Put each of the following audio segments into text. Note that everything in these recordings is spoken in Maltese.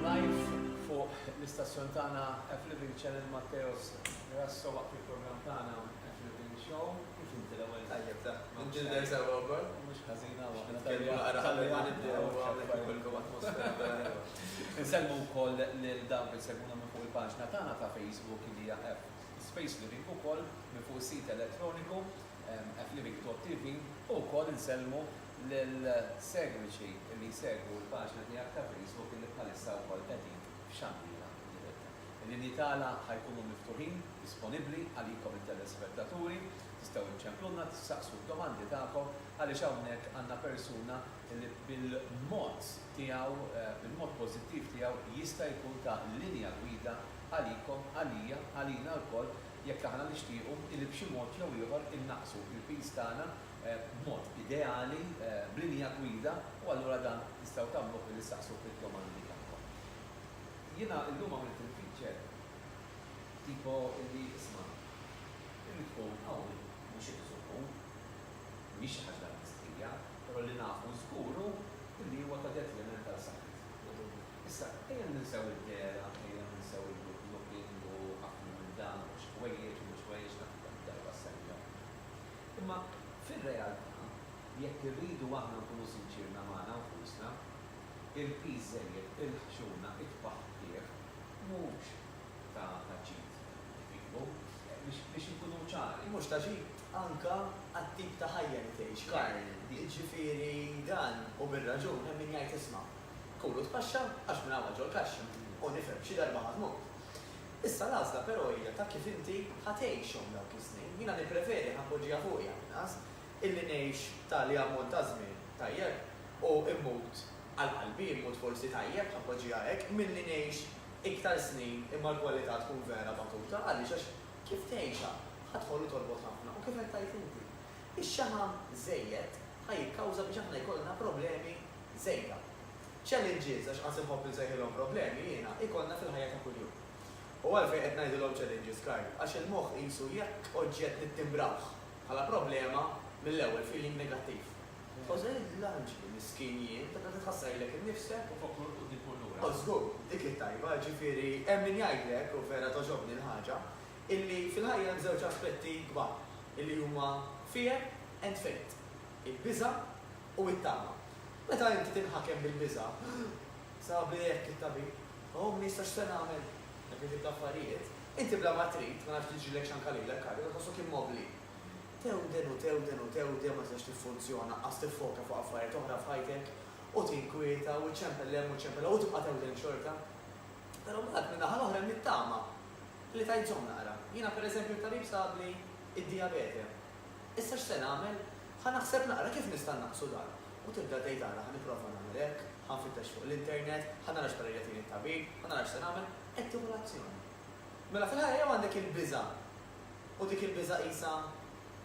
Live fuq l-istazzjon tagħna F-Living Channel Matteos Grasso waqt il-programm tagħna F-Living Show. Kif inti l-ewwel? Tajjeb da. Imġilder sewwa wkoll? Mhux ħażin hawn. Nitkellmu naqra qabel ma nibdew u hawnhekk ikun ġewwa atmosfera vera ħelwa. Insellmu wkoll lil dawk li jsegwuna minn fuq il-paġna tagħna ta' Facebook li hija F Space Living ukoll minn fuq is-sit elettroniku F-Living.tv u wkoll insellmu Lill-segwiċi li jsegwu l-paġna tiegħek ta' Facebook illi bħalissa wkoll qegħdin f'xandira diretta. Il-linji tagħna ħa jkunu miftuħin, disponibbli, għalikom it-telespettaturi, tistgħu iċċemplulna, tistaqsu d-domandi tagħkom għaliex hawnhekk għandna persuna illi bil-mod tiegħu, bil-mod pożittiv tiegħu jista' jkun ta' linja gwida għalikom, għalija, għalina lkoll jekk aħna nixtiequ illi b'xi mod jew ieħor innaqqsu l-piż tagħna b'mod ideali, b'linja gwida, u allura dan tistgħu tagħmluh billi ssaqsu id-domandi tagħkom. Jiena illum għamilt il-feature tipo illi isma', irrid tkun qawwi, mhux irrid tkun hu. Mhix xi ħaġa mistrija, però li nafu żgur hu illi huwa ta' detriment għal saħħitna. Issa, ejja ninsew id-dehra, ejja ninsew il-good looking u aklu minn dan u mhux ħwejjeġ u mhux ħwejjeġ, tant kemm-il darba ssemmihom. Imma fir-realtà, jekk irridu aħna nkunu sinċirna magħna nfusna, il-piż żejjed, il-ħxuna, it-tpaħħbtieħ mhux ta' ġid kbieru. Biex inkunu ċari. Mhux ta' ġid anke għat-tip ta' ħajja li tgħix, Karl. Jiġifieri dan, u bir-raġun, hemm min jgħid isma', kul u tpaxxa għax minn hawn għal ġol-kaxxa, u nifhem, xi darba ħa tmut. Issa l-għażla però hija ta' kif inti ħa tgħixhom dawk is-snin. Jiena nippreferi, ħa npoġġiha fuqi għall-inqas, illi ngħix tali ammont ta' żmien tajjeb u mmut għal qalbi, mmut forsi tajjeb, ħa npoġġiha hekk, milli ngħix iktar snin imma l-kwalità tkun vera batuta. Għaliex? Għax kif tgħixha ħa tħollu torbot ħafna u kif qed tgħid inti, ix-xaħam żejjed ħa jikkawża biex aħna jkollna problemi żejda. Challenges, għax qas inħobb insejħilhom problemi jiena, ikollna fil-ħajja ta' kuljum. U għalfejn qed ngħidilhom challenges, Karl? Għax il-moħħ qisu jekk oġġett nittimbrawh bħala problema, mill-ewwel feeling negattiv. Tħoss li l-anġli, miskin jien, tibda titħassar lilek innifsek. U fuq kull quddiem kull lura. O, żgur, dik hi t-tajba, ġifieri hemm min jgħidlek, u vera togħġobni l-ħaġa, illi fil-ħajja hemm żewġ aspetti kbar, illi huma fear and faith, il-biża' U t-tama. Meta inti tinħakem bil-biża', sabiħ hekk it-tabib, oh, ma nistax se nagħmel, dak it-tip ta' affarijiet, inti bla ma trid, ma nafx jiġrilek x'anka lilek kardiku, tħossok immobbli. Tewden u tewden u tewden ma tistax tiffunzjona, anqas tiffoka fuq affarijiet oħra f'ħajtek, u tinkwieta u ċċempel 'l hemm u ċċempel 'l hawn u tibqa' tewden xorta. Però mbagħad min-naħa l-oħra hemm it-tama li tgħid żomm naqra. Jiena pereżempju t-tabib sabli d-dijabete. Issa x'se nagħmel? Ħa naħseb naqra kif nista' nnaqqsu dan. U tibda tgħid ara ħa nipprova nagħmel hekk, ħa nfittex fuq l-internet, ħa nara x'parir jagħtini t-tabib, ħa nara x'se nagħmel, qed tieħu l-azzjoni. Mela fil-ħajja jew għandek il-biża' u dik il-biża' qisha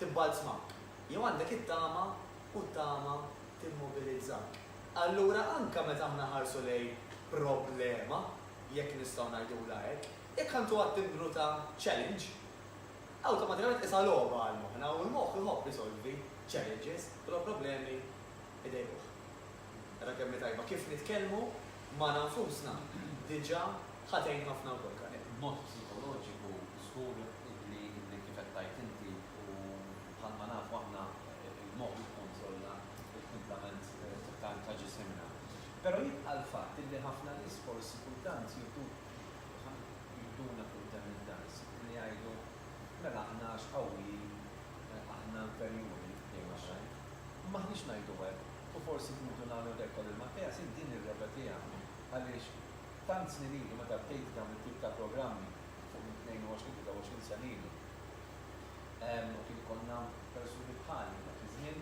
tibbalzmak, jew għandek it-tama u t-tama timmobilizzak. Allura anke meta aħna nħarsu lejn problema, jekk nistgħu ngħidulha hekk, jekk ħa ntuha t-timbru ta' challenge, Awtomatikament tqisha logħba għal moħħna u l-moħħ iħobb isolvi challenges u law problemi idejquh. Ara kemm hi tajba kif nitkellmu magħna nfusna diġà ħa tgħin ħafna wkoll Karel. B'mod psikoloġiku żgur li kif qed tgħid inti u bħalma nafu aħna l-moħħ jikkontrolla l-kumplament ta' ġisimna. Però jibqa' l-fatt li ħafna nies forsi kultant jieħdu Aha, jiduna quddem in-nas billi jgħidu, Mela aħna għax qawwijin, aħna imperjuri, jgħidu oħrajn, u m'aħniex ngħidu hekk, u forsi b'mutu nagħmlu hekk, għal il-Matteas int din irrepetiha għaliex tant snin ilu meta bdejt dawn it-tip ta' programmi fuq minn 22, 23 sena ilu, u kien ikollna persuni bħali dak iż-żmien,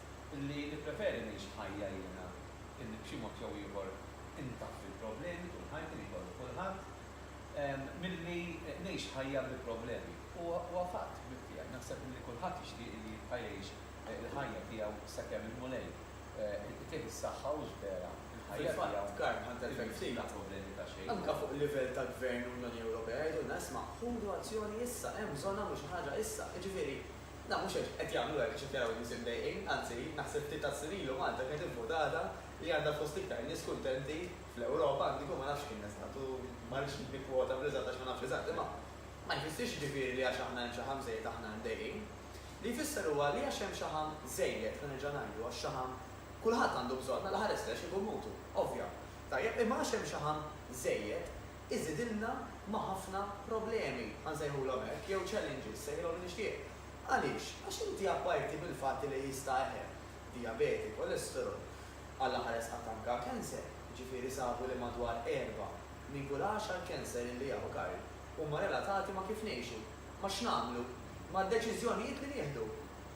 li nippreferi ngħix ħajja jiena illi b'xi mod jew ieħor intaffi l-problemi tul ħajti li jkollu kulħadd, milli ngħix ħajja bli problemi. Huwa fatt, ħbib tiegħi, naħseb illi kulħadd jixtieq illi jibqa' jgħix il-ħajja tiegħu sakemm il-Mulej itih is-saħħa u xbera fil-ħajja tiegħu irid bla problemi ta' xejn. Anke fuq livell ta' Gvern u Unjoni Ewropea jgħidulna isma' ħudu azzjoni issa, hemm bżonnha mhux xi ħaġa issa. Jiġifieri, Naf mhux hekk qed jagħmlu hekk għax qed jaraw in-nies imdejqin, anzi, naħseb li ta' snin ilu Malta kienet ivvutata li għandha fost l-iktar nies kuntenti fl-Ewropa, anki kieku ma nafx kien eżatt u ma rridx nikkwota bl-eżatt għax ma nafx eżatt, imma ma jfissirx jiġifieri li għax aħna hemm xaħam żejjed aħna imdejqin. Li jfisser huwa li għax hemm xaħam żejjed, ħa nerġa' ngħidu, għax xaħam kulħadd għandu bżonn, mela ħares lejh xi jkun mutu, ovvja. Tajjeb, imma għax hemm xaħam żejjed, iżidilna ma' ħafna problemi, ħa nsejħulhom hekk, jew challenges, sejħilhom li nixtieq. Għaliex? Għax inti apparti mill-fatt li jista' eħel, dijabeti, kolesterol, għall-aħħar esqat anke cancer, jiġifieri sabu li madwar erbgħa minn kull għaxar cancer li jaħu Karl huma relatati ma' kif ngħixu, ma' x'nagħmlu, mad-deċiżjonijiet li nieħdu.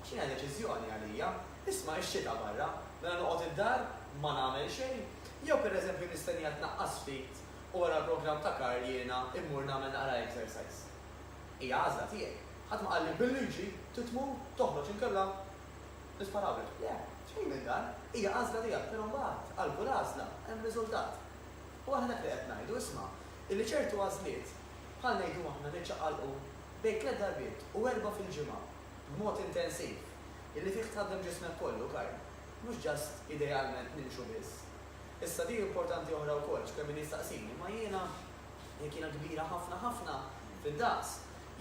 Għax din hija deċiżjoni għalija. Isma' ix-xita barra, mela noqgħod id-dar ma nagħmel xejn? Jew pereżempju nistennija tnaqqas ftit? u wara l-programm ta' Karl jiena mmur nagħmel naqra exercise. Hija għażla tiegħi. Ħadd ma qalli bil-liġi trid tmur toħroġ inkella nisparawlek. Le, xejn minn dan. Hija għażla tiegħek, però mbagħad għal kull għażla hemm riżultat. U aħna hekk li qed ngħidu, isma', illi ċertu għażliet, bħal ngħidu aħna niċċaqalqu bejn tliet darbiet u erbgħa fil-ġimgħa b'mod intensiv, illi fih tħaddem ġismek kollu, Karl, mhux just idealment nimxu biss, Issa di importanti oħra wkoll, x'kemm min jistaqsini, imma jiena jekk jiena kbira ħafna ħafna fid-daqs,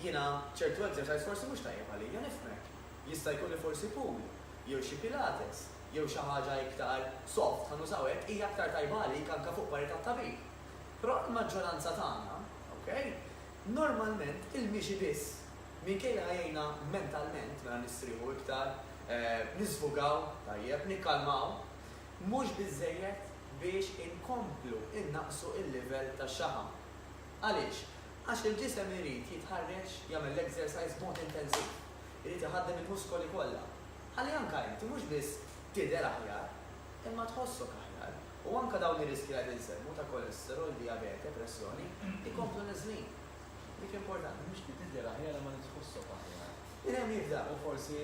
jiena ċertu exercise forsi mhux tajjeb għalija, nifhmek. Jista' jkun li forsi pool, jew xi pilates, jew xi ħaġa iktar soft, ħa nużaw hekk, hija aktar tajba għalik anke fuq pari tat-tabib. Però għall-maġġoranza tagħna, okay, normalment il-mixi biss, minkejja li ħa jgħinna mentalment, mela nistrieħu iktar, nisfugaw, tajjeb, nikkalmaw, mhux biżżejjed biex inkomplu nnaqqsu l-livell ta' xaħam. Għaliex? Għax il-ġisem irid jitħarreġ, jagħmel l-exercise b'mod intensiv. Irid iħaddem il-muskoli kollha. Ħalli anke inti mhux biss tidher aħjar, imma tħossok aħjar. U anke dawn ir-riskji li qed insemmu ta' kolesterol, dijabete, pressjoni, ikomplu niżlin. Dik importanti, mhux li tidher aħjar imma li tħossok aħjar. Min hemm jibda? U forsi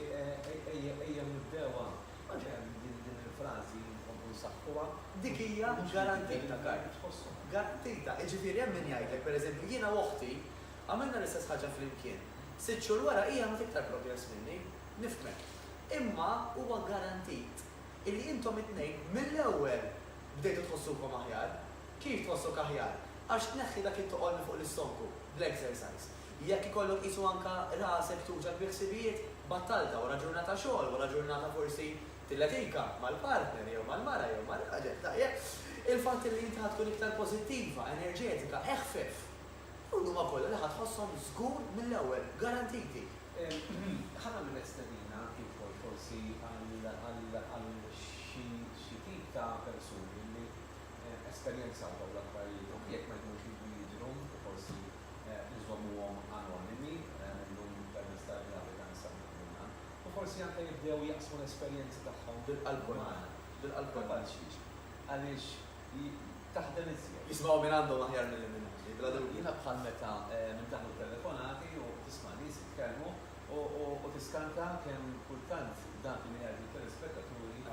ejjew nibdewha. Oġġehem, din il-frażi li nkomplu nsaħħuha, dik hija garantita, Karl. Garantita. Jiġifieri hemm min jgħidlek, pereżempju, jiena u oħti għamilna l-istess ħaġa flimkien. Sitt xhur wara hi għamlet iktar progress minni. Nifhmek. Imma huwa garantit illi intom it-tnejn mill-ewwel bdejtu tħossukom aħjar. Kif tħossok aħjar? Għax tneħħi dak it-toqol minn fuq l-istonku, bl-exercise. Jekk ikollok qisu anke rasek tuġgħek bi ħsibijiet, battalta wara ġurnata xogħol, wara ġurnata forsi tilletika mal-partner jew mal-mara jew mar-raġel, tajjeb, il-fatt li inti ħa tkun iktar pożittiva, enerġetika, eħfef. Dawn huma kollha li ħa tħosshom żgur mill-ewwel, garantiti. Ħa nagħmilek stedina anki wkoll forsi għal xi tip ta' persuni li esperjenzaw dawn l-affarijiet, anki jekk ma jkunux iridu jidhru u forsi. inżommuhom anonimi mill-lum permezz tal-gravità nsemmuh jiena, u forsi anke jibdew jaqsmu l-esperjenzi tagħhom magħna, kapaċi, għaliex taħdem iżjed. Jisimgħu minn għandhom aħjar milli minn għandi, bla dubju. Jiena bħal meta nintagħmlu t-telefonati u tisma' nies jitkellmu u tiskanta kemm kultant dak li jgħidu t-telespettaturi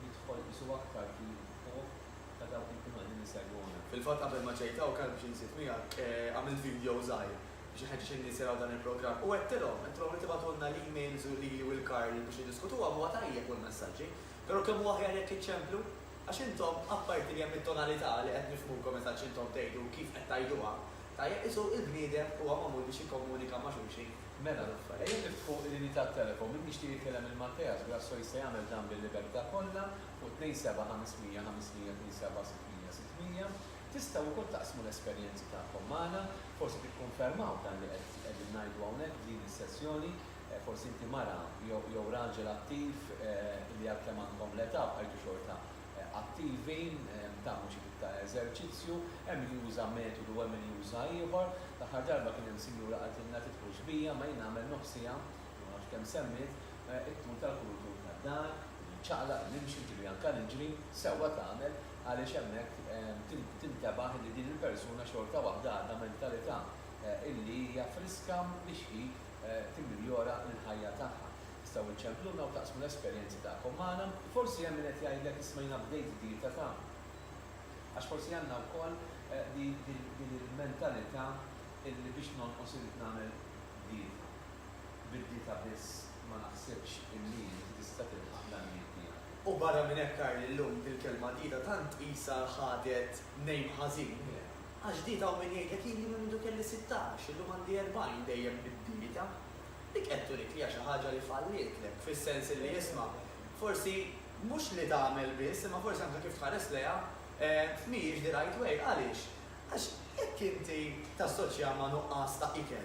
jidħol qisu aktar fil-fuq, ta' dawk li jkunu qegħdin isegwuna. Fil-fatt qabel ma ġejt hawn kelb biex inżid miegħek, għamilt video żgħir biex inħeġġeġ lin-nies jaraw dan il-programm u għedtilhom, għedtilhom li tibagħtulna l-emails u lili u lil Karl biex niddiskutuhom, huwa tajjeb u l-messaġġi, però kemm hu aħjar jekk iċċemplu? Għax intom, apparti li hemm it-tonalità li qed nifhmukom eżatt x'intom tgħidu u kif qed tgħiduha, tajjeb qisu il-bniedem huwa magħmul biex jikkomunika ma' xulxin. Mela, ejja niftħu l-inità tat-telekom, min jixtieq jitkellem il-Malteas Grasso jista' jagħmel dan bil-libertà kollha, fuq 27 500 500 27 600 600. Tistgħu wkoll taqsmu l-esperjenzi tagħkom magħna, forsi tikkonfermaw dan li qegħdin ngħidu hawnhekk f'din is-sessjoni, forsi inti mara jew raġel attiv li għalkemm għandkom l-età bqajtu xorta attivi, tagħmlu xi tip ta' eżerċizzju, hemm min juża metodu u hemm min juża ieħor. L-aħħar darba kien hemm sinjura qaltilna tidħulx bija, ma jien nagħmel nofsiha, ma nafx kemm semmiet, It-tul tal-kull tul tad-dar, niċċaqlaq, nimxi, nġri anke niġri, sewwa tagħmel għaliex hemmhekk tintebaħ li din il-persuna xorta waħda għadha mentalità illi hija friska biex hi timmiljora l-ħajja tagħha. Tistgħu iċċempluna u taqsmu l-esperjenzi tagħkom magħna? Forsi hemm min qed jgħidlek isma' jiena bdejt dieta ta' għax forsi għandna wkoll din il-mentalità illi biex nonqos irrid nagħmel dieta. bid-dieta biss ma naħsibx illi inti tista' tilħaq l-għanijiet tiegħek. U barra minn hekk Karl illum dil-kelma dieta tant qisha ħadet name ħażin, għax dieta hawn min jgħidlek hi li minn mindu kelli sittax, illum għandi erbgħin dejjem bid-dieta. Dik qed turik li hija xi ħaġa li fallietlek, fis-sens illi isma', forsi mhux li tagħmel biss imma forsi anke kif tħares lejha mhijiex the right way. Għaliex? Għax jekk inti tassoċjaha ma' nuqqas ta' ikel,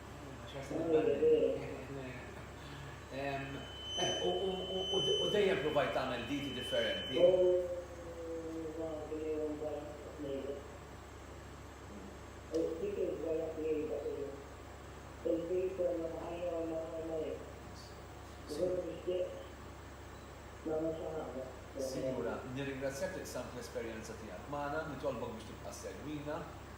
U dejjem provajt tagħmel diti differenti. Sinjura, nirringrazzjak li qsamt l-esperjenza tiegħek magħna, nitolbok biex tibqa' ssegwina.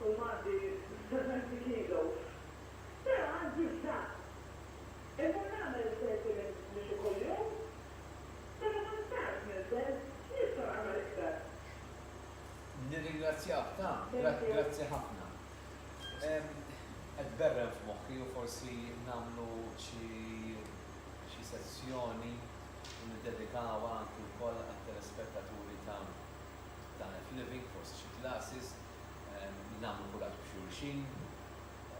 U Mati stabet bi kilo. Però għandi bżann. Immur nagħmel thirty mins mixi kuljum? Meta kont tard ninżel, nista' nagħmel iktar? Nirringrazzjak ta', grazzi ħafna. Qed berren f'moħħi u forsi nagħmlu xi xi sessjoni u niddedikawha anki wkoll għat-telespettaturi ta' ta' F-Living, forsi xi classes. nagħmlu kuraġġ b' xulxin,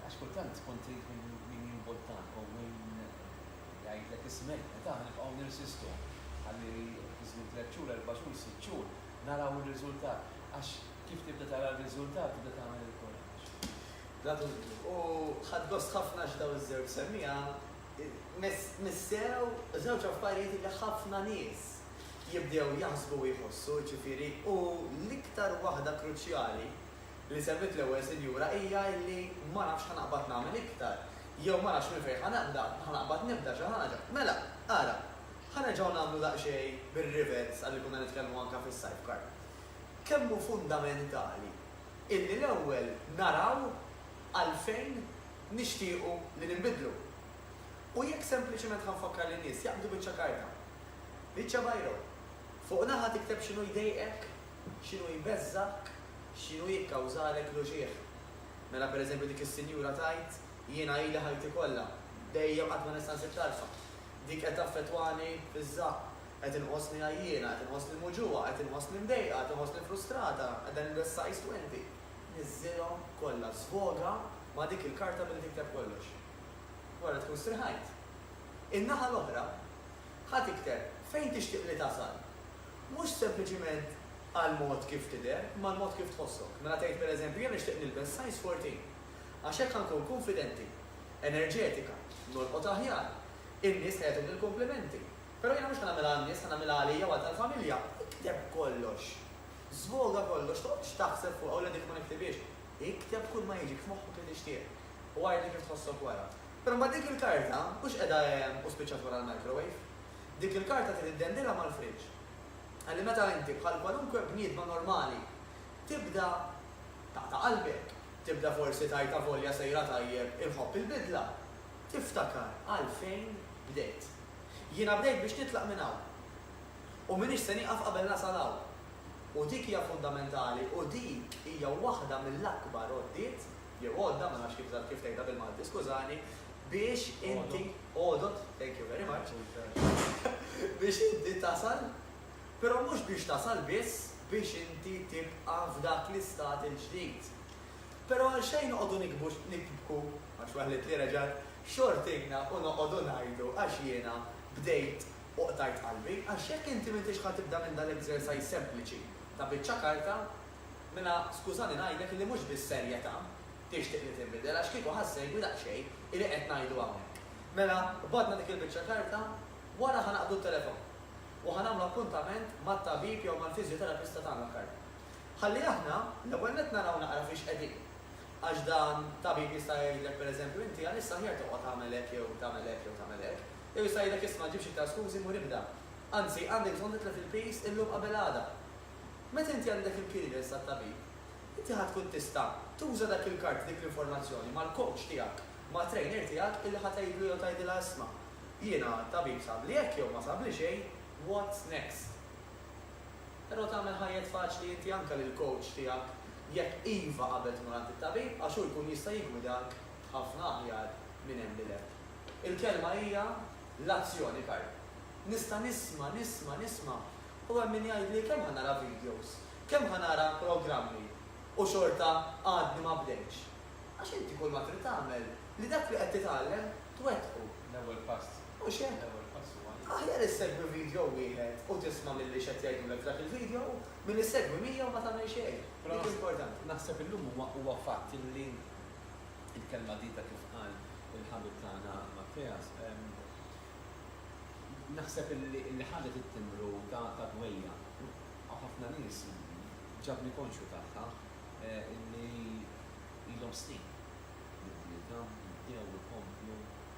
għax kultant tkun trid min jimbuttak u min jgħidlek ismek, qed aħna nibqgħu nirsistu ħalli fi żmien tliet xhur, erba' xhur, sitt xhur naraw ir-riżultat, għax kif tibda tara r-riżultat tibda tagħmel il-kuraġġ. Bla dubju. U ħadt gost ħafna x'dawn iż-żewġ semmiegħa Missew żewġ affarijiet li ħafna nies jibdew jaħsbu u jħossu, jiġifieri, u l-iktar waħda kruċjali li semmiet l-Ewwel Sinjura hija illi ma nafx ħa naqbad nagħmel iktar, jew ma nafx minn fejn ħa nibda, ħa naqbad nibda xi ħaġa. Mela, ara, ħa nerġgħu nagħmlu daqsxejn bir-rivers għalli konna nitkellmu anke fis-sidecar. Kemm hu fundamentali illi l-ewwel naraw għalfejn nixtiequ li ninbidlu. U jekk sempliċement ħa nfakkar lin-nies jaqbdu biċċa karta, biċċa biro, fuq naħa tikteb x'inhu jdejqek, x'inhu jbeżżgħek, x'inhu jikkawżalek l-uġigħ. Mela pereżempju dik is-sinjura tgħid, jiena ili ħajti kollha, dejjem qatt ma nista' nsib tarfa. Dik qed taffettwani fiż-żaqq. Qed inqosni għajjiena, qed inqosni muġugħa, qed inqosni mdejqa, qed inqosni frustrata, qiegħda nilbes size 20. Niżżilhom kollha, żvoga ma' dik il-karta milli tikteb kollox. Wara tkun striħajt. In-naħa l-oħra, ħa tikteb fejn tixtieq li tasal. Mhux sempliċiment għall-mod kif tidher, imma l-mod kif tħossok. Mela tgħid pereżempju, Jiena nixtieq nilbes size 14. Għax hekk ħa nkun kunfidenti, enerġetika, nolqot aħjar, in-nies ħa jagħtuni l-komplimenti. Però jiena mhux ħa nagħmilha għan-nies, ħa nagħmilha għalija u għal tal-familja. Ikteb kollox. Żvoga kollox, toqgħodx taħseb fuqha u l-għedek ma niktibhiex. Ikteb kull ma jiġik f'moħħok li tixtieq u għidli kif tħossok wara. Però mbagħad dik il-karta mhux qiegħda hemm u spiċċat wara l-microwave. Dik il-karta trid iddendilha mal-friġġ. Ħalli meta inti, bħal kwalunkwe bniedma normali, tibda taqta' qalbek, tibda forsi tgħid avolja sejra tajjeb inħobb il-bidla, tiftakar għalfejn bdejt. Jiena bdejt biex nitlaq minn hawn. u m'iniex se nieqaf qabel nasal hawn. U dik hija fundamentali u dik hija waħda mill-akbar għoddiet, jew għodda, ma nafx kif kif tgħidha bil-Malti skużani, biex inti, għodod, thank you very much, biex inti tasal, però mhux biex tasal biss, biex inti tibqa' f'dak l-istat il-ġdid. Però għalxejn noqogħdu nikbu, nibku, għax waħlitli reġgħet, xortijna u noqogħdu ngħidu għax jiena bdejt U qtajt qalbi, għax jekk inti m'intix ħa tibda minn dal-exercise sempliċi ta' biċċa karta, mela skużani ngħidlek illi mhux bis-serjetà tixtieq li tinbidel għax kieku ħa ssegwi daqsxejn illi qed ngħidu hawnhekk. Mela qbadna dik il-biċċa karta, wara ħa naqbdu t-telefon u ħa nagħmlu appuntament mat-tabib jew mal-fiżjoterapista tagħna karta. Ħalli aħna l-ewwel nett naraw naqra fiex qegħdin. Għax dan tabib jista' jgħidlek pereżempju inti għalissa aħjar toqgħod agħmel hekk jew tagħmel hekk jew tagħmel hekk. Jew jista' jgħidlek isma' ġibx iktar skużi mur ibda. Anzi, għandek bżonn titlef il-piż illum qabel għada. Meta inti għandek il-clearance tat-tabib, inti ħa tkun tista' tuża dak il-kard, dik l-informazzjoni, mal-coach tiegħek, mat-trainer tiegħek illi ħa tgħidlu jew tgħidilha isma', jiena t-tabib sabli hekk jew ma sabli xejn, what's next? Però tagħmel ħajjet faċli inti anke lill-coach tiegħek jekk iva qabel tmur għand it-tabib għax hu jkun jista' jiggwidak ħafna aħjar minn hemm 'l hemm. Il-kelma hija l-azzjoni, Karl. Nista' nisma', nisma', nisma', u hemm min jgħidli kemm ħa nara videos, kemm ħa nara programmi, u xorta għadni ma bdejtx. Għax inti kulma trid tagħmel li dak li qed titgħallem twettqu. L-ewwel pass. Mhux hekk? L-ewwel pass huwa li. Aħjar issegwi video wieħed u tisma' milli x'qed jgħidulek f'dak il-video milli ssegwi 100 u ma tagħmel xejn. Dik importanti. Naħseb illum huwa fatt li Il-kelma dita kif qal il-ħabib tagħna Matteas, naħseb illi ħadet it-timbru ta' dwejjaq għaw ħafna nies, ġabni konxju tagħha illi ilhom snin li bdietha, li bdew, ikomplu,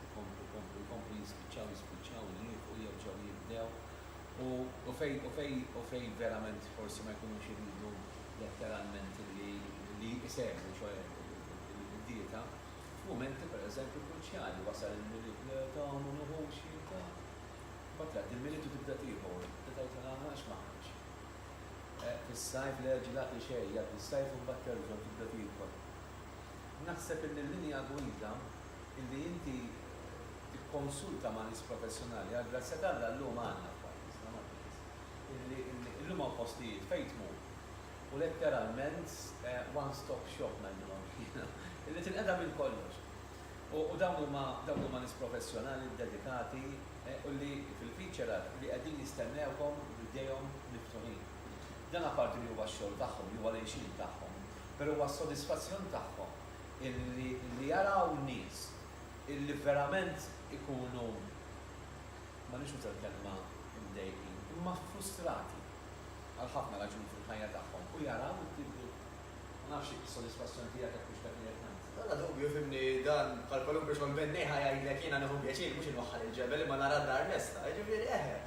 ikomplu, ikomplu, ikomplu, jispiċċaw, jispiċċaw, jieqfu, jerġgħu jibdew, u fejn, u fejn, u fejn verament forsi ma jkunux iridu letteralment illi isegwu, ċoe Minn dieta, f'mumenti pereżempju kruċjali, wasal il-Milied nerġa' u ma nieħux dieta, imbagħad jgħaddi l-Milied u tibda tieħu, tibda tgħid lilha ma nafx ma aħdimx. Fis-sajf le ġilati xejn, jgħaddi s-sajf u mbagħad terġa' u tibda tiekol. Naħseb illi l-linja gwida illi inti tikkonsulta ma' nies professjonali, għall-grazzja t'Alla llum għandna f'pajjiżna, Maltież, illi llum hawn postijiet fejn tmur, u letteralment one stop shop ngħidilhom jiena, li tinqeda' minn kollox. U dawn huma dawn huma nies professjonali ddedikati u li fil-feature li qegħdin jistennewkom b'idejhom miftuħin. Dan apparti li huwa x-xogħol tagħhom li huwa l-għixien tagħhom, però huwa s-sodisfazzjon tagħhom illi li jaraw nies illi verament ikunu ma rridx nuża l-kelma mdejqin imma frustrati. għal ħafna raġuni fil-ħajja tagħhom u jaraw it-tibdil. Ma nafx jekk is-sodisfazzjon tiegħek hekk hux dak li qed ngħid. Bla dubju, fhimni, dan bħal kwalunkwe xogħol benniħ ħa jgħidlek jiena nieħu pjaċir mhux inwaħħal il-ġebel imma nara d-dar lesta. Jiġifieri, eħe.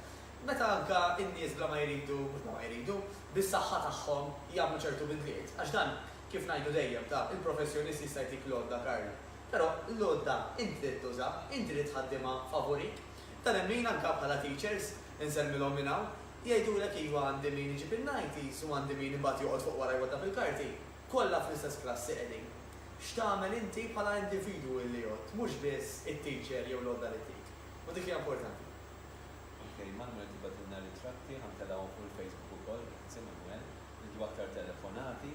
Meta anke n-nies bla ma jridu, mhux bla ma jridu, bis-saħħa tagħhom jagħmlu ċertu bidliet. Għax dan, kif ngħidu dejjem, ta, il-professjonist jista' jtik l-għodda, Karl. Però l-għodda int trid tużha, int trid tħaddimha favurik. Ta' nemmin anka bħala teachers, insellmilhom minn hawn, jgħidulek iva għandi min iġib in-nighties u għandi min imbagħad joqgħod fuq wara jwaddaf il-karti, kollha fl-istess klassi qegħdin. X'tagħmel inti bħala individwu illi jgħodd, mhux biss it-teacher jew l-għodda li ttik. U dik hija importanti. Ok Manwel tibgħatilna ritratti ħa ntelgħuhom fuq il-Facebook ukoll, grazzi Manwel. Irridu aktar telefonati.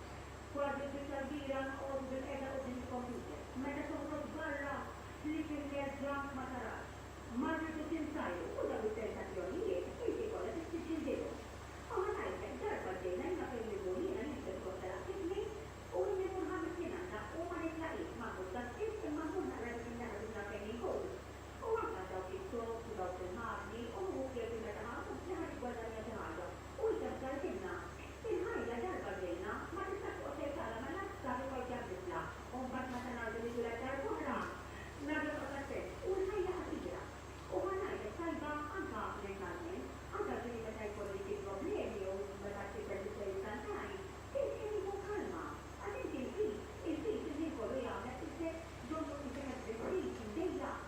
Kważi l-biċċa l-kbira noqogħdu bilqiegħda quddiem il-kompjuter. Meta toħroġ barra ħlief ikel ġank ma tarax. Ma rridu tintajru u dawn it-tentazzjonijiet inti kollha trid tiġġildilhom. Ma ħa ngħidlek, darba ġejna jiena fejn immur jiena nilbes kostela f'idni u inni kull ħames jien għandha u ma nitlaqilx ma mmur ta' spiss imma mmur naqra dik in-naħa l-oħra fejn inkun. U anke għal dawk it-tops u dawk il-magni u nieħu ħsieb li meta ħa nkun f'dni ħa niggwadanja xi ħaġa u inti ħsartilna. Il-ħajja darba ġejna ma tistax toqgħod tgħid għala ma nafx sa minn fejn se għad nitlaq u mbagħad meta ngħaddu nitwieled darb'oħra ma jonqos għad sens u l-ħajja qasira. U ħa ngħidlek tajba anka mentalment, anka ġieli meta jkolli xi problemi jew meta tkisser differenza żgħir, kif kien jieħu kalma. Għax inti l-piż, il-piż il-ħin kollu jagħmlek isek donnu isek għad tbissix, imdejjaq.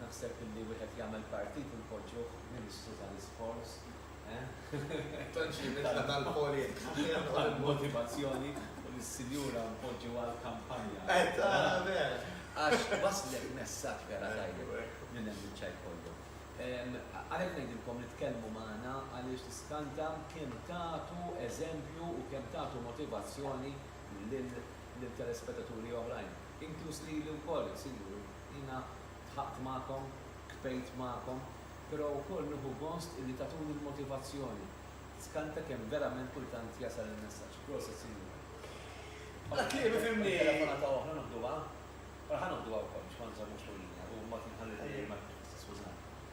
Naħseb illi wieħed jagħmel partit u npoġġuh Ministru tal-Isports, eh? Tant xi bidla tal-polit! Tal-motivazzjoni u lis-sinjura npoġġu għall-kampanja. Eh, ta' vera! Għax wasslek messaġġ vera tajjeb minn hemm minn Ċajkollu. Għalhekk ngħidilkom li tkellmu magħna għaliex tiskanta kemm tagħtu eżempju u kemm tagħtu motivazzjoni lil lil telespetaturi oħrajn, inkluż lili wkoll, insibu li jiena dħaqt magħkom, kbejt magħkom, però wkoll nieħu gost illi tagħtuni l-motivazzjoni, tiskanta kemm verament kultant jasal il-messaġġ. Proset, Sinjura. Bħala kliem ifhimni! Għal telefonata oħra noħduha? Mela ħa noħduha wkoll biex ma nżommux lil Nia, hu mod li nħalli lil Nia jmexxi, tiskużani.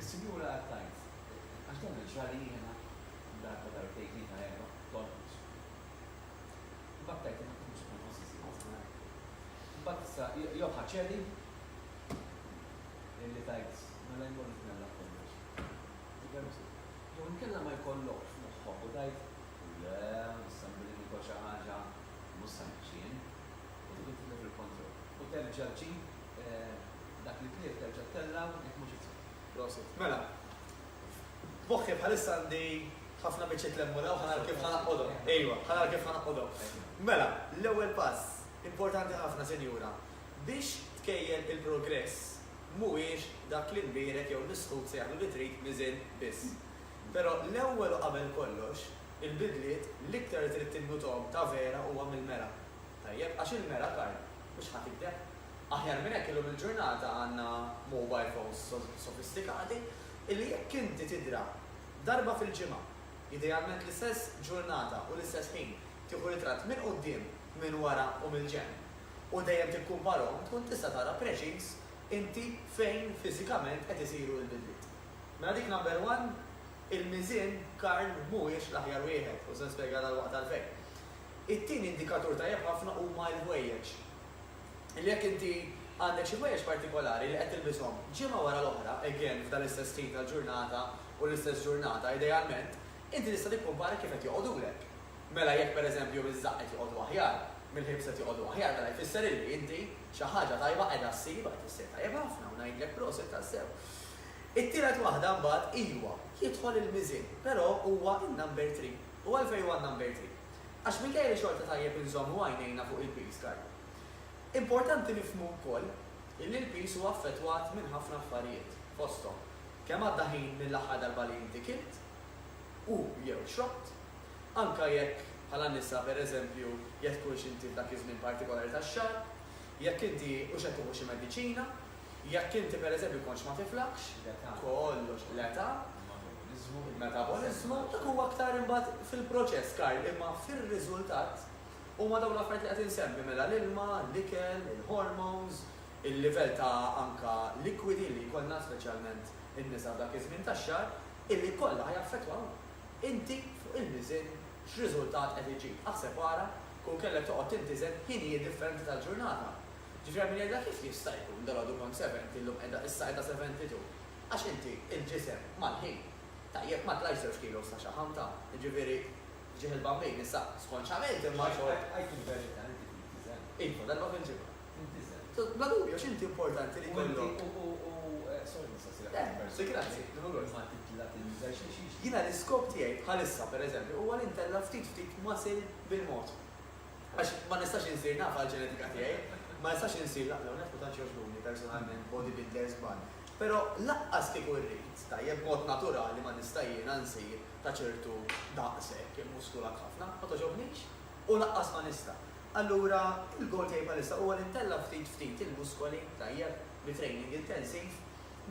Is-Sinjura għad tgħid, Għax dan il-ġrali jiena darba darbtejn tlieta erbgħa tonqos. Imbagħad tgħid, Imma kif mhux qed nonqos iżjed żgħar? Imbagħad issa jogħha ċeri li tgħid, Mela jmur nitmella b'kollox. Tipermetti. Jew inkella ma jkollokx f'moħħok u tgħid, Le, issa billi nikol xi ħaġa mhux se ngħix jien. u tkun tieħu il-kontroll u terġa' ġġib dak li tlief terġa' ttellgħu jekk mhux it-tfal. Prosit. Mela, f'moħħi bħalissa għandi ħafna biċċiet lemmuna u ħa nara kif ħa naqqodhom. Ejwa, ħa nara kif ħa naqqodhom. Mela, l-ewwel pass importanti ħafna, Sinjura, biex tkejjel il-progress mhuwiex dak li mbierek jew l-isħut se jagħmlu li trid miżien biss. Però l-ewwel u qabel kollox, Il-bidliet l-iktar li trid tinnutom ta' vera huwa mill-mera. Tajjeb, għax il-mera karn, mhux ħa tikdeb. Aħjar minn hekk illum il-ġurnata għandna mobile phones sofistikati illi jekk inti tidra darba fil-ġimgħa, idealment l-istess ġurnata u l-istess ħin, tieħu ritratt minn quddiem, minn wara u mill-ġenb u dejjem tikkumparhom tkun tista' tara preċiż inti fejn fiżikament qed isiru l-bidliet. Mela dik number one Il-miżien karn mhuwiex l-aħjar wieħed, u se nispjega dalwaqt għalfejn. It-tieni indikatur tajjeb ħafna huma l-ħwejjeġ. Jekk inti għandek xi ħwejjeġ partikolari li qed tilbishom ġimgħa wara l-oħra, again f'dan l-istess ħin tal-ġurnata u l-istess ġurnata idealment, inti tista' tikkumpara kif qed joqogħdulek. Mela jekk pereżempju miż-żaqq qed joqogħdu aħjar, mill-ħibs qed joqogħdu aħjar, mela jfisser illi inti xi ħaġa tajba qiegħda ssib, qed issir tajjeb ħafna u ngħidlek prosit tassew. It-tielet waħda mbagħad iwa, jidħol il-miżien, però huwa in-number three. U għalfejn huwa n-number three? Għax minkejja li xorta tajjeb inżommu għajnejna fuq il-piż karb. Importanti nifhmu wkoll illi l-piż huwa affettwat minn ħafna affarijiet, fosthom, kemm għadda ħin mill-aħħar darba li inti kilt u jew xrobt, anke jekk, bħala nisa, pereżempju, jekk tkunx inti f'dak iż-żmien partikolari tax-xahar, Jekk inti hux qed tieħu xi mediċina, jekk inti pereżempju kontx ma tiflaħx, kollox, l-età, il-metaboliżmu, dak huwa aktar imbagħad fil-proċess, Karl, imma fir-riżultat huma dawn l-affarijiet li qed insemmi, mela l-ilma, l-ikel, il-hormones, il-livell ta' anke likwidi li jkollna, speċjalment in-nisa f'dak iż-żmien tax-xahar, illi kollha ħajaffettwaw inti fuq il-miżien x'riżultat qed iġib. Aħseb ara tkun kellha toqgħod tintiżen ħinijiet differenti tal-ġurnata. Ġifieri hemm min jgħidilha kif jista' jkun dalgħodu kont seventi llum qiegħda issa qiegħda seventi two? Għax inti l-ġisem mal-ħin. Tajjeb ma tlajx żewġ kilos ta' xaħam ta'. Jiġifieri ġieħ il-Bambin issa skonċjament imma xogħol. Għid il-verità inti tintiżen? Iva, darba fil-ġimgħa. Tintiżen? Bla dubju għax inti importanti li jkollok. U inti u u sorry nistaqsik aktar personali. Le, grazzi, nimma lura. Imma titla' tintiżen xi xi xi. Jiena l-iskop tiegħi bħalissa pereżempju huwa li ntella' ftit ftit muscle bil-mod. Għax ma nistax insir naf għall-ġenetika tiegħi, ma nistax insir la, l-ewwel nett ma tantx jogħġbuni personalment bodybuilders żball, però lanqas kieku rrid, tajjeb, b'mod naturali ma nista' jiena nsir ta' ċertu daqs hekk, immuskulat ħafna, ma togħġobnix u lanqas ma nista'. Allura il-goal tiegħi bħalissa huwa li ntella' ftit ftit il-muskoli, tajjeb, bi training intensiv,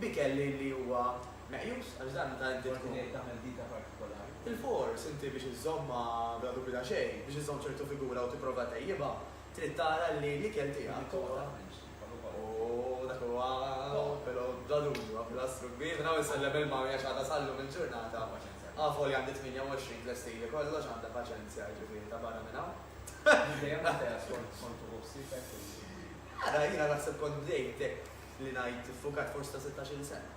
b'ikel li li huwa meqjus, għax dan dan inti tkun. Forsi trid tagħmel dieta partikolari. Filfors, inti biex iżżommha bla dubju ta' xejn, biex iżżomm ċertu figura u tipprova tejjibha, trid tara li l-ikel tiegħek huwa. Bil-liquola m'hemmx qiegħ ukoll. Ooh, dak huwa però bla dubju huwa pilastru kbir. Minn hawn insellem ilma għax għadha sal-lum il-ġurnata. Għandha paċenzja. Avolja għandi 28 tlestili kollox, għandha paċenzja, jiġifieri ta' barra minn hawn. Minn dejjem għamiltha hekk skont skont uħu ħsiebek u. Ara, jiena naħseb kont bdejt hekk li ngħid iffukat forsi ta' sittax-il sena.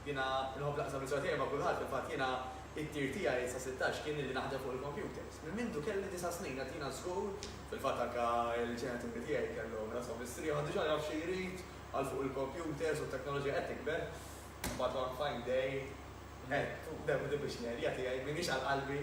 Jiena nħobb naqsam l-istorja tiegħi ma' kulħadd, fil-fatt jiena t-tir tiegħi sa sittax kien li naħdem fuq il-kompjuters. Minn mindu kelli disa' snin għad jiena żgur, fil-fatt anke l-ġenituri tiegħi kellhom rashom mistrieħa, għad diġà jaf xi jrid għal fuq il-kompjuters u t-teknoloġija qed tikber. Mbagħad one fine day għedt demm din biex l-għerja tiegħi m'iniex għal qalbi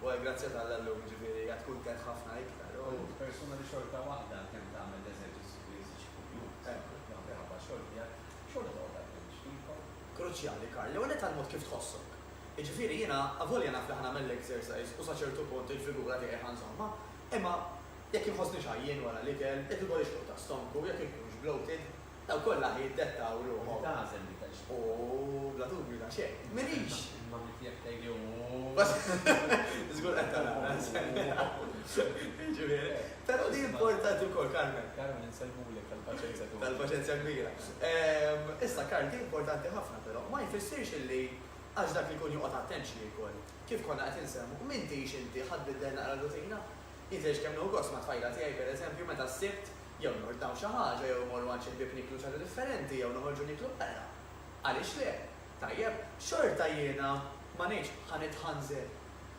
u għall-grazzja t'Alla llum jiġifieri għad kuntent ħafna iktar u. Persuna li xorta waħda kemm tagħmel l-eżerċizzju. Spiżiċi kuljum, temp u tnaqqir ħabba x-xogħol tiegħek, xogħol li toqgħod għaddej mhix f'idkom. Kruċjali, Karl, l-ewwel nett għall-mod kif tħossok. Jiġifieri, jiena avolja naf li ħa nagħmel l-exercise u sa ċertu punt il-figura tiegħi ħa nżommha, imma jekk inħossnix għajjien wara l-ikel, jekk ikollix tluq ta' stomku, jekk inkunx bloated, dawk kollha ħa jiddettaw ruħhom. Li tagħżel li tgħix. U bla dubju ta' xejn, m'iniex! Il-mommy tiegħek tgħidli, Ooh! Żgur qed tara, Karl, se nilgħab. Jiġifieri. Però din importanti wkoll, Carmen. Carmen, insellmulek tal-paċenzja tiegħek. Tal-paċenzja kbira. Issa, Karl, din importanti ħafna però, ma jfissirx illi għax dak li jkun joqgħod attent xi jiekol. Kif konna qed insemmu, m'intix inti ħa tbiddel naqra r-rutina? Jien tgħidx kemm nieħu gost mat-tfajla tiegħi, pereżempju, meta s-Sibt jew nordnaw xi ħaġa jew immorru għand xi ħbieb nieklu xi ħaġa differenti jew noħorġu nieklu barra. Għaliex le? Tajjeb, xorta jiena ma ngħidx ħa nitħanżel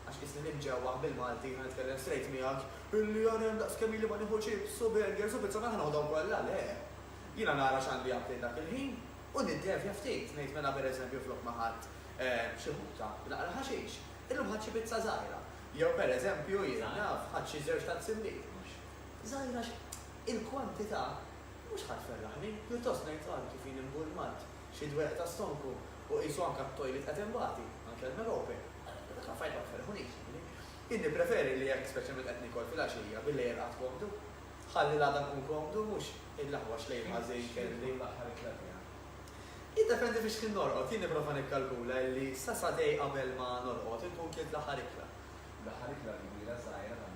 Għax qisni nimġewwaħ bil-Malti, jiena nitkellem strejt miegħek, illi ara hemm daqs kemm ili ma nieħu chips u burgers u pizza ma ħanoħdhom kollha, le! Jiena nara x'għandi aptit dak il-ħin u niddevja ftit, ngħid mela per eżempju flok ma ħadt xi ħuta b'naqra ħaxix, illum ħadt xi pizza żgħira. Jew per eżempju, jien naf, ħadt xi żewġ ta' nsimbit. Mhux żgħira għax il-kwantità mhux ħa tferraħni, pjuttost ngħid ara kif jien imbulmat, xi dwejjaq ta' stonku u qisu anke t-toilet qed inbati, anke l-melope. Meta tħaffajt ma tferrħunix, jiġifieri. Jien nippreferi li jekk speċjalment qed niekol filgħaxija, bil-lejl irqad komdu. Ħalli l-għada nkun komdu, mhux il-aħwax lejl ħażin kelli. X'kien tkun l-aħħar ikla tiegħek? Jiddependi fiex kien norqod. Jien nipprova nikkalkula illi sa sagħtej qabel ma norqod inkun kilt l-aħħar ikla. L-aħħar ikla l-kbira, żgħira, tagħmilha?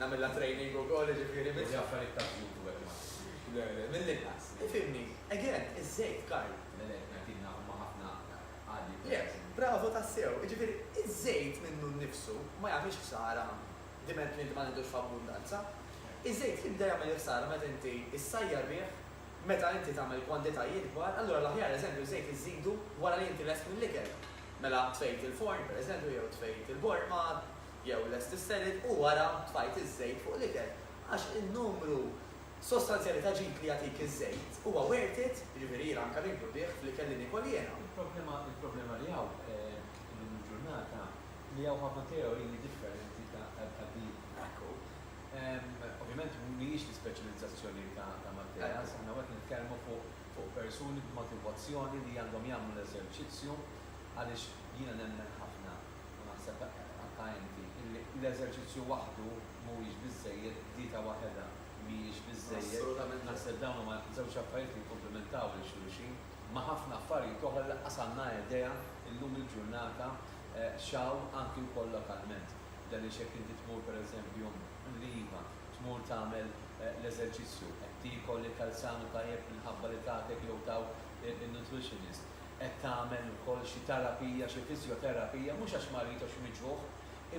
Nagħmilha training ukoll jiġifieri biex. Ġieb affarijiet ta' żjut u hekk ma. Le le, mill-inqas. Ifhimni, again, iż-żejt, Karl. Le le, qed ngħid jiena huma ħafna għaddiet ta' żjut. Le, bravo tassew, jiġifieri iż-żejt minnu nnifsu ma jagħmilx ħsara diment li inti ma tiħdux f'abbundanza. Iż-żejt jibda jagħmel il-ħsara meta inti ssajjar bih, meta inti tagħmel kwantitajiet kbar, allura l-aħjar eżempju ż-żejt iżżidu wara li inti lest mill-ikel. Mela tfejt il-forn, pereżempju, jew tfejt il-borma, jew lest is-selid u wara tfajt iż-żejt fuq l-ikel għax in-numru sostanzjali ta' ġid li jagħtik iż-żejt huwa worth it, jiġifieri jiena anke ninkludih fl-ikel li niekol jiena. Il-problema li hawn illum il-ġurnata li hawn ħafna teoriji differenti ta' din. Hekk hu. Ovvjament mhijiex l-ispeċjalizzazzjoni ta' Matteas, aħna hawn qed nitkellmu fuq persuni b'motivazzjoni li għandhom jagħmlu l-eżerċizzju għaliex jiena nemmen ħafna, u naħseb għadtha inti, illi l-eżerċizzju waħdu mhuwiex biżżejjed, dieta waħedha mhijiex biżżejjed, naħseb dawn huma żewġ affarijiet li jikkumplimentaw lil xulxin, ma' ħafna affarijiet oħra li lanqas għandna idea llum il-ġurnata x'hawn anki wkoll lokalment. Għaliex jekk inti tmur pereżempju l-iva, tmur tagħmel l-eżerċizzju, qed tiekol ikel sanu tajjeb minħabba li tagħtek jew tawk in-nutritionist, qed tagħmel ukoll xi terapija, xi fiżjoterapija, mhux għax marid jew xi miġrugħ,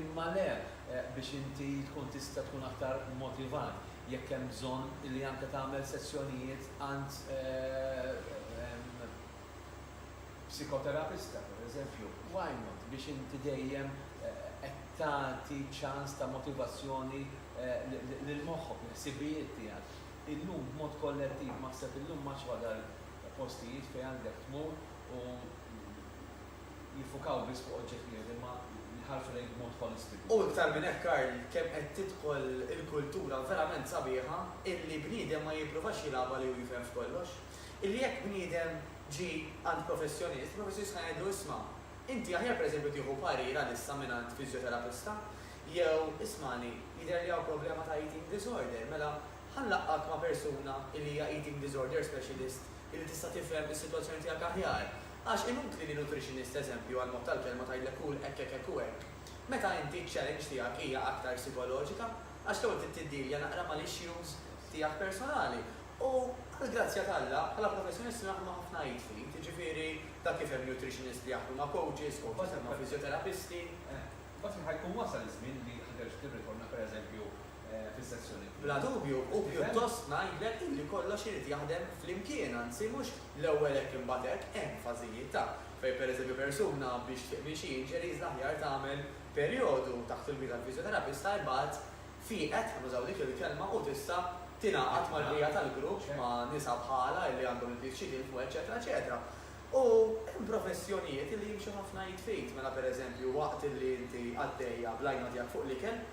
imma le biex inti tkun tista' tkun aktar motivat jekk hemm bżonn li anke tagħmel sessjonijiet għand psikoterapista pereżempju, why not, biex inti dejjem qed tagħti ċans ta' motivazzjoni lil moħħok, lill-ħsibijiet tiegħek. Illum b'mod kollettiv, m'aħseb illum m'għadx wadal Postijiet fejn għandek tmur u jiffukaw biss fuq oġġett wieħed imma jħarsu lejk b'mod ħolistiku. U iktar minn hekk Karl, kemm qed tidħol il-kultura verament sabiħa illi bniedem ma jippruvax jilgħabha li hu jifhem f'kollox. Illi jekk bniedem ġie għand professjonist, il-professjonist ħa jgħidlu isma', inti aħjar pereżempju tieħu parir għalissa mingħand fiżjoterapista jew ismagħni, jidher li hawn problema ta' eating disorder, mela Ħa nlaqqgħek ma' persuna li hija eating disorder specialist li tista' tifhem is-sitwazzjoni tiegħek aħjar. Għax inutli li nutritionist eżempju għall-mod tal-kelma tgħidlek kul hekk hekk hekk u hekk. Meta inti ċ-challenge tiegħek hija aktar psikoloġika. Għax l-ewwel trid tiddilja naqra mal-issues tiegħek personali. U għall-grazzja t'Alla, bħala professjonist nagħmel ħafna id f'id. Jiġifieri, dak kif hemm nutritionist li jaħdmu ma' coaches, coaches li jaħdmu ma' fizjoterapisti. Imbagħad fejn ħa jkun wasal iż-żmien li ħa terġa' tirritorna pereżempju fis-sessjoni l-oħra. Bla dubju, u pjuttost ngħidlek illi kollox irid jaħdem flimkien, anzi mhux l-ewwel hekk imbagħad hekk, hemm fażijiet ta', fejn pereżempju persuna biex tfiq minn xi injuries l-aħjar tagħmel perjodu taħt il-gwida tal-fiżjoterapista imbagħad fieqet, ħa nużaw dik il-kelma, u tista' tingħaqad mal-bqija tal-grupp ma' nisa bħalha illi għandhom il-pjaċir jilħmu eċċetera eċetera. U hemm professjonijiet illi jimxu ħafna id f'id, mela pereżempju waqt illi inti għaddejja bl-għajnuna tiegħek fuq l-ikel,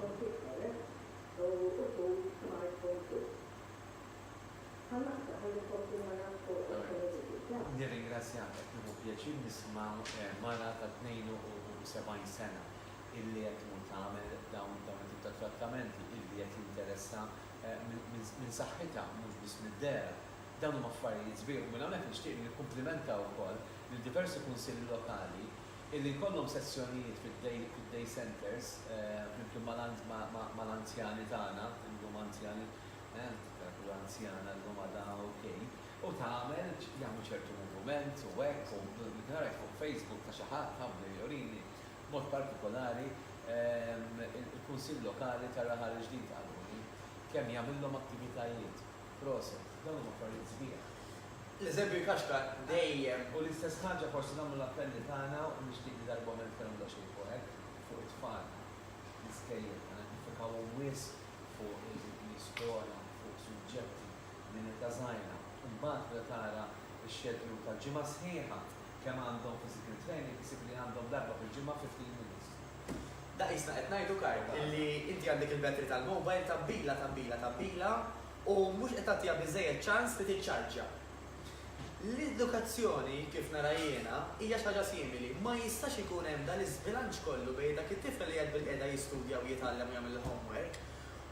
Konflitt ħeles u użur smart phone żejt. Ħa naqta' ħalli nkompli nara foto tal-eżibit tagħek. Nirringrazzjak qed nieħu pjaċir nisma' mara ta' 72 sena illi qed tmur tagħmel dawn dawn it-tip ta' trattamenti illi qed jinteressa minn saħħitha mhux biss mid-dehra. Dawn huma affarijiet sbieħ u minn hawnhekk nixtieq li nikkumplimenta wkoll lil diversi kunsilli lokali illi jkollhom sessjonijiet fid-day centres flimkien mal-anzjani tagħna, illum anzjani, tkun anzjana llum għada ok, u tagħmel, jagħmlu ċertu muvument u hekk u dik nara hekk fuq Facebook ta' xi ħadd ħabli jurini b'mod partikolari il-Kunsill Lokali tar-Raħal il-Ġdid qaluli kemm jagħmillhom attivitajiet. Proset, dawn huma affarijiet sbieħ. L-eżempju jkaxkar dejjem. U l-istess ħaġa forsi nagħmlu l-appelli tagħna u nixtieq li darba oħra nitkellmu daqsxejn fuq hekk, fuq it-tfal fl-iskejjel. Ma niffikawhom wisq fuq eżempji skola, fuq suġġetti minn età żgħira. Imbagħad meta tara x-schedule tal-ġimgħa sħiħa kemm għandhom physical training isib li għandhom darba fil-ġimgħa 15 minutes. Daqisna qed ngħidu Karl illi inti għandek il-battery tal-mobile tgħabbilha tgħabbilha tgħabbilha u mhux qed tagħtiha biżżejjed ċans li tiċċarġja. L-edukazzjoni kif nara jiena hija xi ħaġa simili, ma jistax ikun hemm dan l-iżbilanċ kollu bejn dak it-tifel li qiegħed bilqiegħda jistudja u jitgħallem u jagħmel il-homework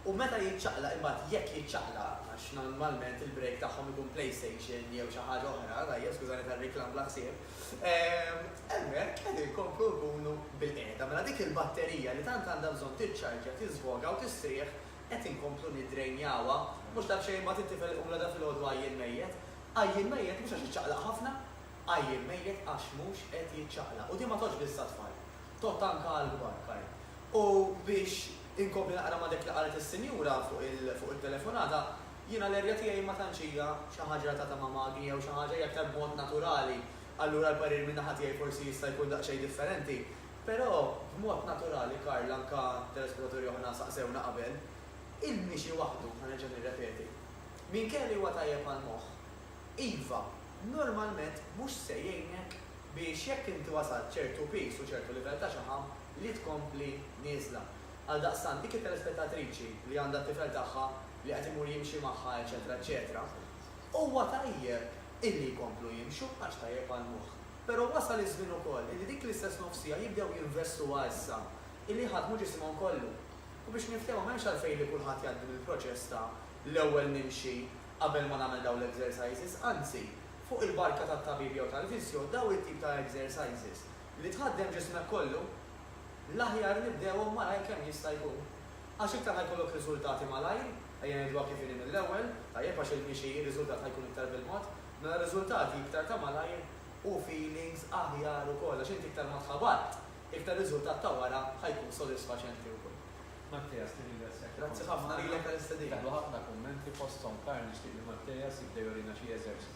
u meta jiċċaqlaq imbagħad jekk jiċċaqlaq għax normalment il-break tagħhom ikun playstation jew xi ħaġa oħra, tajjeb skużani tar-riklam bla ħsieb, Hemmhekk qed inkomplu nkunu bilqiegħda. Mela dik il-batterija li tant għandha bżonn tiċċarġja, tiżvoga u tistrieħ qed inkomplu niddrejnjawha. Mhux daqsxejn imbagħad inti f'għeliq imla da filgħodu għajjien mejjet. Għajjien mejjet mhux għax iċċaqlaq ħafna, għajjien mejjet għax mhux qed jiċċaqlaq. U din ma tgħoddx biss għat-tfal. Tgħodd anke għall-kbar, Kyle. U biex inkompli naqra ma' dak li qalet is-sinjura fuq it-telefonata, jiena l-erja tiegħi ma tantx hija xi ħaġa relatata ma' magni jew xi ħaġa hija aktar b'mod naturali, allura l-parir minn naħa tiegħi forsi jista' jkun daqsxejn differenti. Però b'mod naturali Karl anke telespettaturi oħra saqsewna qabel, il-mixi waħdu, ħa nerġa' nirrepeti, minkejja li huwa tajjeb għall-moħħ, iva, normalment mhux se jgħinek biex jekk inti wasalt ċertu piż u ċertu livell ta' xaħam li tkompli nieżla. Għaldaqstant, dik it-telespettatriċi li għandha t-tifel tagħha li qed imur jimxi magħha eċetera eċetera, huwa tajjeb illi jkomplu jimxu għax tajjeb għall-moħħ. Però wasal iż-żmien ukoll illi dik l-istess nofsija jibdew jinvestuha issa illi jħaddmu ġisimhom kollu. U biex niftehmu m'hemmx għalfejn li kulħadd jgħaddi mill-proċess ta' l-ewwel nimxi qabel ma nagħmel dawn l-exercises, anzi, fuq il-barka tat-tabib jew tal-fisjo dawn it-tip ta' exercises li tħaddem ġismek kollu, l-aħjar nibdewhom malajr kemm jista' jkun. Għax iktar ħa jkollok riżultati malajr, ejja ngħiduha kif inhi mill-ewwel, tajjeb għax il-mixi ir-riżultat ħa jkun iktar bil-mod, mela riżultati iktar ta' malajr u feelings aħjar ukoll għax inti iktar ma tħabatt, iktar riżultat ta' wara ħa jkun sodisfaċenti wkoll. Matteas, nirringrazzjak li kont magħna. Grazzi ħafna lilek tal-istedina. Daħlu ħafna kummenti fosthom Karl nixtieq li Matteas jibda jurina xi eżerċizzji.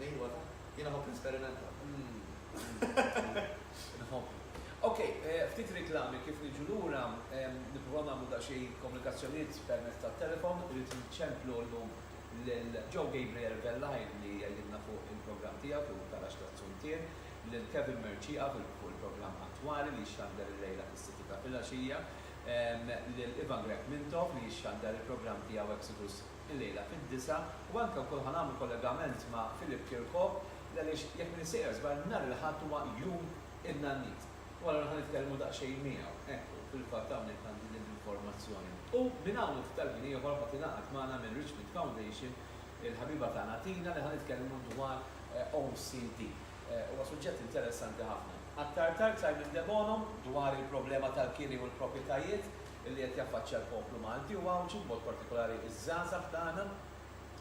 Min huwa dan? Jien nħobb nesperimenta. Nħobb. Ok, ftit riklami kif niġu lura, nippruvaw nagħmlu daqsxejn komunikazzjonijiet permezz tat-telefon, irrid inċemplu llum lil Joe Gabriel Vellaj li jgħidilna fuq il-programm tiegħu fuq il-garaxx taz-Zuntier, lil Kevin Mercieca fuq il-programm attwali li jixxandar illejla fis-sitti ta' filgħaxija, lil Ivan Grech Mintoff li jixxandar il-programm tiegħu Exodus il-lejla fid-disgħa u anke wkoll ħa nagħmlu kollegament ma' Philip Kirkop li għaliex jekk m'iniex sejjer żball nhar il-Ħadd huwa jum in-Nannit u allura ħa nitkellmu daqsxejn miegħu. Ekku, fil-fatt hawnhekk għandi din l-informazzjoni. U minn hawn u ftit tal-ħin ieħor ħa tingħaqad magħna minn Richmond Foundation il-ħabiba tagħna Tina li ħa nitkellmu dwar OCD. Huwa suġġett interessanti ħafna. Aktar tard Simon Debono dwar il-problema tal-kiri u l-proprjetajiet li qed jaffaċċja l-poplu Malti u Għawdxi, b'mod partikolari ż-żgħażagħ tagħna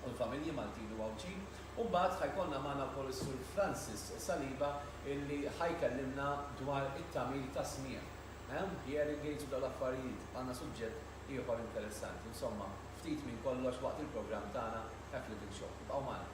u l-familji Maltin u Għawdxin. U mbagħad ħa jkollna magħna wkoll is-Sur Francis Saliba illi ħa jkellimna dwar it-tagħmir tas-smigħ, ehm, hearing aids u dawn l-affarijiet. Għandna suġġett ieħor interessanti. Insomma, ftit minn kollox waqt il-programm tagħna Hekk Living Show. Ibqgħu magħna.